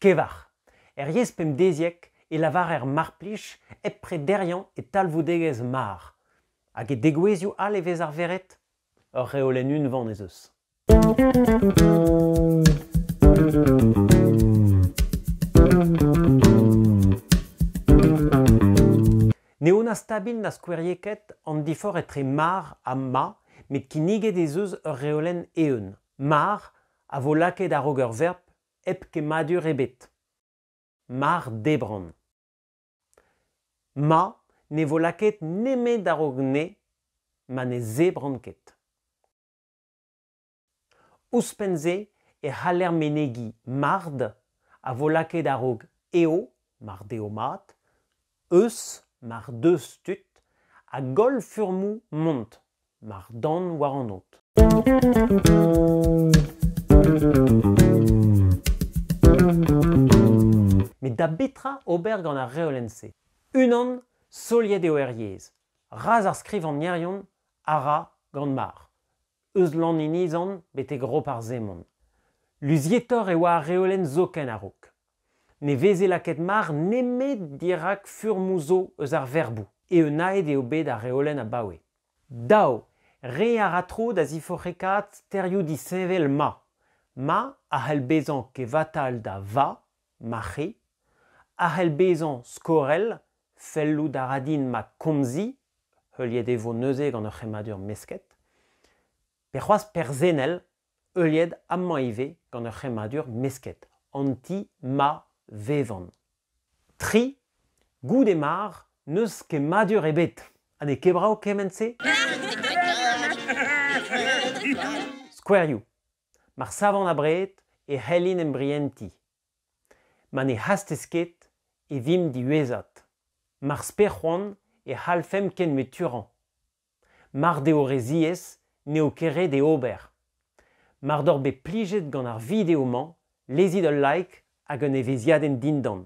Kevar. Er yezh pemdeziek e lavarer marplij hep prederiañ e talvoudegezh mar. Hag e degouezhioù all e vez arveret? Ur reolenn unvan ez eus. N'eo na stabil na skoueriek an diforc'h etre mar ha ma, met kinniget ez eus ur reolenn eeun. Mar a vo lakaet a-raok ur verb hep kemmadur ebet. Mar debran. Ma ne vo lakaet nemet a-raok ne ma ne zebran ket. Ouzhpenn-se e c'haller menegiñ mard a vo lakaet a-raok eo, mar deo mat, eus mar deus tud a goll furmoù mont mar dan war an aod. Met da betra ober gant ar reolenn-se? Unan, soliet eo er yezh. Razh ar skrivagnerion a ra gant mar. eus Lanniniz-an betek Roparz-Hemon. Luzietoc'h e oa ar reolenn zoken a-raok. Ne veze lakaet mar nemet dirak furmoù zo eus ar verboù, eeunaet eo bet ar reolenn abaoe. Dav, re a ra tro da ziforc'hekaat sterioù disheñvel ma, ma a c'hell bezañ kevatal da va ma c'hi, a c'hell bezañ skorell, fellout a ra din ma komzi, heuliet e vo neuze gant ur c'hemmadur mesket, pe c'hoazh perzennel, heuliet amañ ivez gant ur c'hemmadur mesket, an ti ma vevan. Tri, goude mar n'eus kemmadur ebet. Ha n'eo ket brav kement-se? Skouerioù. Mar savan abred e c'hellin embrientiñ. Ma ne c'hastez ket e vimp diwezhat. Mar sper c'hoant e c'hallfemp ken meturañ. Mar deo re ziaes n'eo ket ret e ober. Mar doc'h bet plijet gant ar video-mañ lezit ul like hag un evezhiadenn dindan.